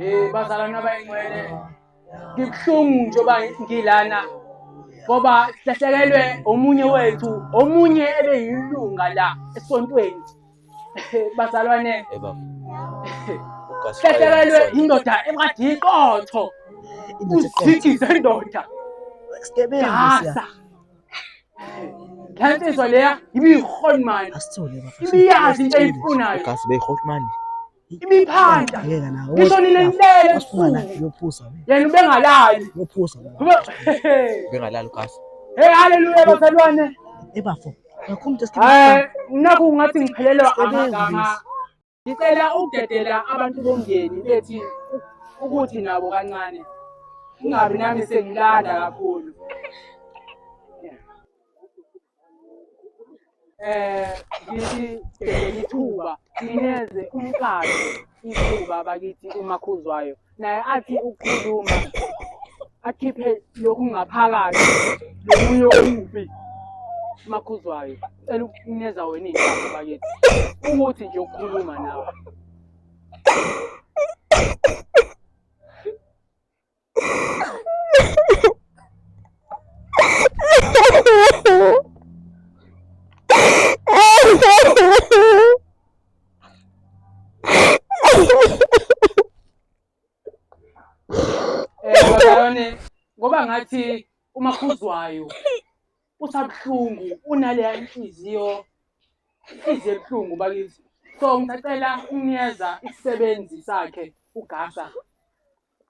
Eh bazalwana abayingcwele ngibuhlungu njengoba ngilana ngoba silahlekelwe omunye wethu omunye ebeyilunga la esontweni bazalwane uhlaselelwe indoda engathi iqotho uzithi zendoda gasa le nsizwa leya ibiyihonimani ibiyazi into eyifunayo imiphanda ngisho nina nibele ebusuku yena ubengalali ubengalali ugafa hey haleluya bazalwane ebafo eh, nakho ungathi ngiphelelwa amagama ngicela ukudedela abantu bomndeni bethi ukuthi nabo kancane ungabi nami sengilanda kakhulu eh ngithi sibhekele ithuba sineze umqalo ithuba bakithi umakhuzwayo naye athi ukukhuluma akhiphe lokhu ngaphakathi lomunye okubi makhuzwayo cela ukuneza wena iy'ndaba bakithi ukuthi nje ukukhuluma nawe Yone ngoba ngathi umakhuzwayo usabuhlungu unaleya inhliziyo inhliziyo ebuhlungu bakithi so ngisacela ukunikeza isisebenzi sakhe ugasa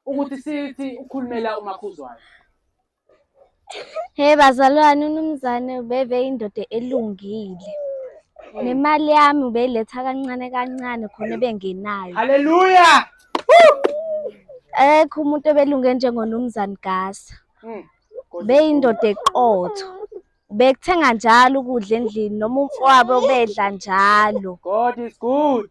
ukuthi sithi ukhulumela umakhuzwayo he bazalwane unumzane ubeve indoda elungile hmm. nemali yami ubeyiletha kancane kancane khona ebengenayo haleluya ekho umuntu obelunge njengonumzane gasa hmm. beyindoda eqotho bekuthenga njalo ukudla endlini noma umfowabo ubedla njalo god is good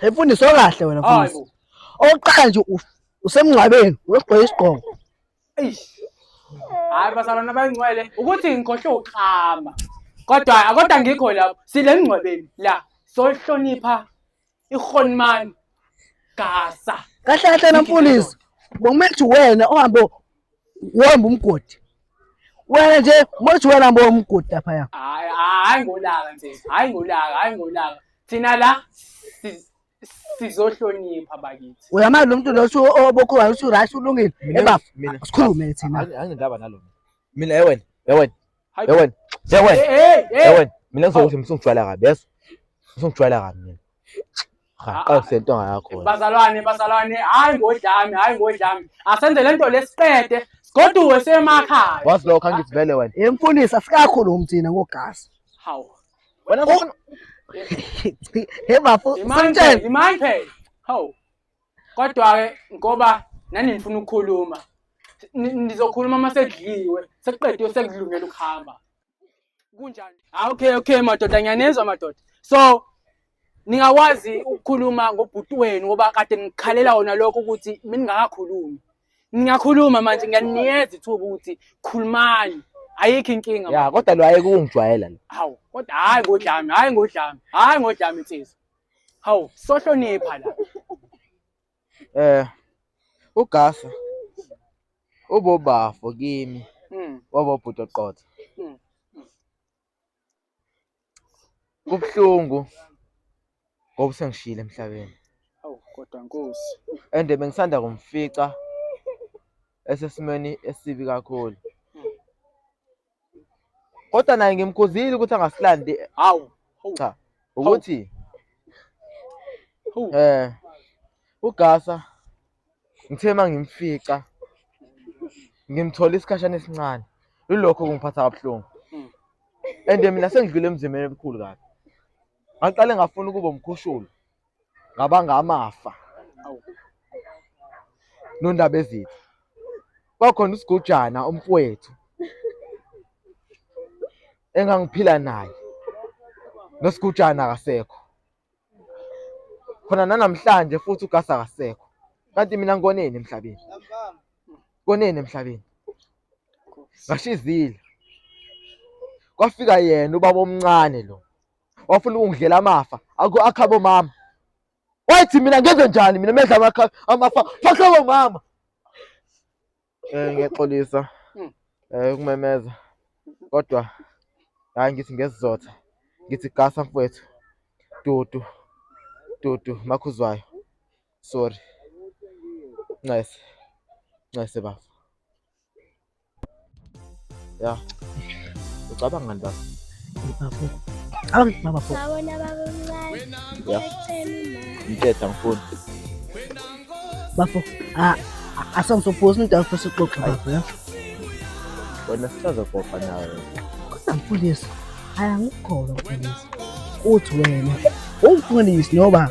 Hey mfundisi okahle wena mfundisi. Oqala nje usemngcwabeni uyogqoka isigqoko. Eish. Hayi basalana bayingcwele ukuthi ngikhohle uklama. Kodwa akodwa ngikho lapho sile mngcwabeni la sohlonipha ihonimani gasa. Kahle kahle na mfundisi. Bokumethi wena ohambe uhamba umgodi wena nje mothi wena mbo umgodi lapha ya hayi hayi ngolaka nje hayi ngolaka hayi ngolaka thina la sizohlonipha bakithi uyamali lo muntu lo obokho wayo usu right ulungile ebafo sikhulume thina angindaba nalo mina yewena yewena yewena yewena yewena mina ngizokuzimisa ungijwayela kabi yeso usungijwayela kabi mina rhaqose into yakho bazalwane bazalwane hayi ngodlami hayi ngodlami asenze lento lesiqede sigoduwe semakhaya wazi lokho angithi vele wena emfundisi asikakhulu umthina ngogasi hawu wena he bafo imanje imanje hawu kodwa ke ngoba nani nifuna ukukhuluma nizokhuluma uma sekudliwe sekuqediwe sekudlungela ukuhamba kunjani ah, okay okay madoda ngiyanezwa madoda so ningakwazi ukukhuluma ngobhuti wenu ngoba kade ngikhalela wona lokho ukuthi mina ngingakakhulumi ngingakhuluma manje ngiyaniyeza ithuba ukuthi khulumani ayikho inkinga ya kodwa lo ayeke ukungijwayela lo hawu kodwa hayi ngodlami hayi ngodlami hayi ngodlami nsizwa hawu sohlonipha la Eh uGasa ubobafo kimi Mm. wabobhuti oqotho. Mm. Kubuhlungu ngoba usengishiyile emhlabeni Awu kodwa Nkosi. and bengisanda kumfica esesimeni esibi kakhulu. kodwa naye ngimkhuzile ukuthi angasilandi hawu cha ukuthi eh ugasa ngithe mangimfica ngimthola isikhashana esincane lulokho kungiphatha kabuhlungu hmm. and mina sengidlule emzimeni ebukhulu kabi ngaqale ngafuna ukuba umkhushulu ngabanga amafa nondaba ezitha kwakhona usigujana umfowethu engangiphila naye nosigujana akasekho khona nanamhlanje futhi ugasa akasekho kanti mina ngikoneni emhlabeni koneni emhlabeni ngashizile kwafika yena ubaba omncane lo wafuna ukungidlela amafa akhabo mama wathi mina ngenze njani mina medla amakha amafa fahloko mama eh ngiyaxolisa hmm. eh ukumemeza kodwa hayi ngithi ngesizotha ngithi gasa mfowethu dudu dudu makhuzwayo sorry ncese ncese bafo ya ucabanga nta bafo awu babafo sawona babamncane ya ngithetha ngifuni bafo asangizophosa into yakho sixoxe bafo ya wena sisazoxoxa nawe kodwa mfundisi ayangikholwa mfundisi uthi wena ungifundisi noba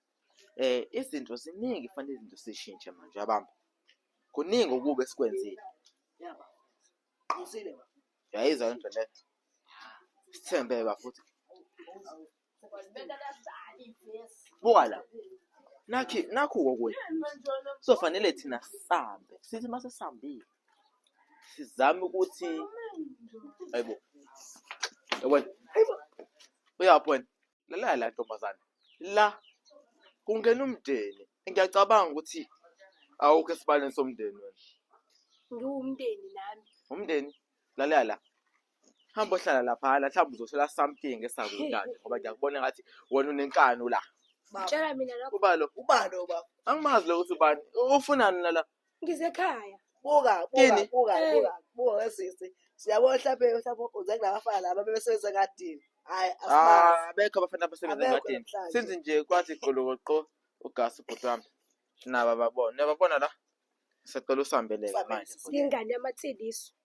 Eh izinto ziningi kufanele izinto sishintshe manje yabamba. Kuningi okubi esikwenzile. Yaba. Qhusile. Yayizwa into le. Sithembe bafuthi. Buka la. Nakhi nakhu kokunye. So fanele thina sambe. Sithi mase sambile. Sizame ukuthi ayibo. Yabona. Uyaphona. lalela la ntombazane la kungena umndeni ngiyacabanga ukuthi awukho esibaleni somndeni wena ngiwumndeni nami umndeni lalela la hamba ohlala laphana mhlawumbe uzothola something esakudlane ngoba ngiyakubona ngathi wena unenkani la tshela mina lokho ubalo ubalo baba angimazi lo ukuthi ubani ufunani nala ngisekhaya buka buka Yini? buka Eh. buka buka wesisi siyabona mhlawumbe mhlawumbe uze kunabafana laba bebesebenza ngadini hayi asibazi Ah, abekho abafana abasebenza Abekho engadini namhlanje. sinzi nje kwathi golokoqo ugasi ubhuti wami naba babona niyababona la siyacela usihambeleke Usihambele, manje sisi. yingane yamathiliso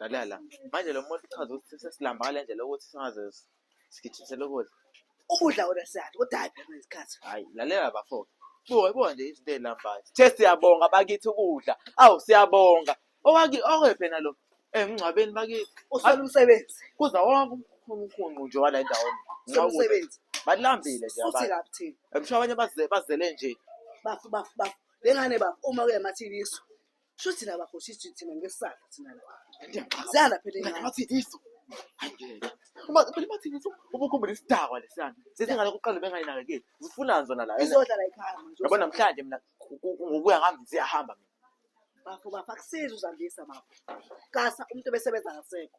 Ngalala. Manje lo muntu uchaza ukuthi sesilamba ngale ndlela ukuthi singaze sigijisele ukudla. Ukudla wena siyadla, kodwa hhayi phela isikhathi. Hhayi, lalela bafo. Buka, buka nje izinto ey'lambayo. Sithe siyabonga bakithi ukudla. Awu, siyabonga. Owaki, okwephi yena lo? Emngcwabeni bakithi. Usola umsebenzi. Kuza wonke umkhunqu nje wala endaweni. Usola umsebenzi. Balambile nje Futhi abantu. kabi thina. Emsho abanye baze- bazele nje. Bafo, bafo, bafo. Le ngane bafo, uma kuyamathini isu. Sho thina bakhosi sithi thina ngesala thina la. Ndiyaxaka. Zala phela Like ingane. bathi iso. Hayi ngeke. Uma phela bathi iso ubukhumbula isidakwa lesiyana. Sesingale kuqala bengayinakekeli. Zifuna zona la. Izodla la ekhaya manje. Yabona namhlanje mina ku- ku- ku- ngokuya ngami ziyahamba mina. Bafo bafo akusizi uzandisa bafo. Kasa umuntu obesebenza ngasekho.